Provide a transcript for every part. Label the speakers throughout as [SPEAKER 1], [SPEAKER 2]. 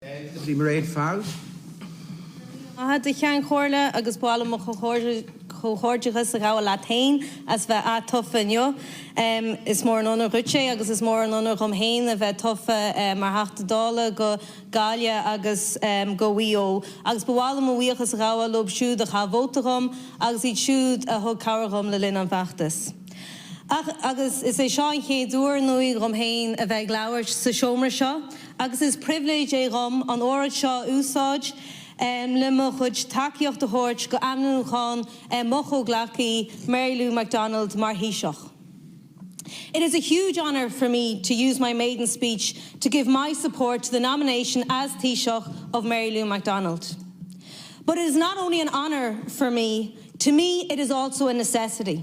[SPEAKER 1] Mairéad
[SPEAKER 2] Farrell. Maith agat, a Cheann Comhairle agus ba mhaith liom mo chomhghairdeachas a ghabháil leat féin as bheith atofa inniu. Is mór an onóir dhuit é agus is mór an onóir dhom féin a bheith tofa mar Theachta Dála do Ghaillimh agus do Mhaigh Eo agus ba mhaith liom mo bhuíochas a ghabháil leo siúd a chaith vóta dhom agus iad siúd a thug cabhair dhom le linn an fheachtais. Agus is é seo an chéad uair inniu dhom féin a bheith ag labhairt sa seomra seo agus is pribhléid é dhom an óráid seo a úsáid le mo chuid tacaíocht a thabhairt do ainmniúchán mo chomhghleacaí, Mary Lou McDonald, mar Thaoiseach. It is a huge honour for me to use my maiden speech to give my support to the nomination as Taoiseach of Mary Lou McDonald. But it is not only an honour for me, to me it is also a necessity.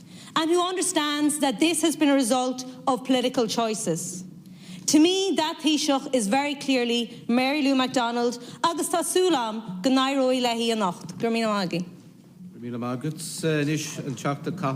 [SPEAKER 2] and who understands that this has been a result of political choices. To me, that Taoiseach is very clearly Mary Lou McDonald agus tá súil agam go n-éireoidh léi
[SPEAKER 1] anocht. Go raibh
[SPEAKER 2] míle maith agat.
[SPEAKER 1] Go raibh
[SPEAKER 2] míle maith agat. Anois an Teachta Cathal.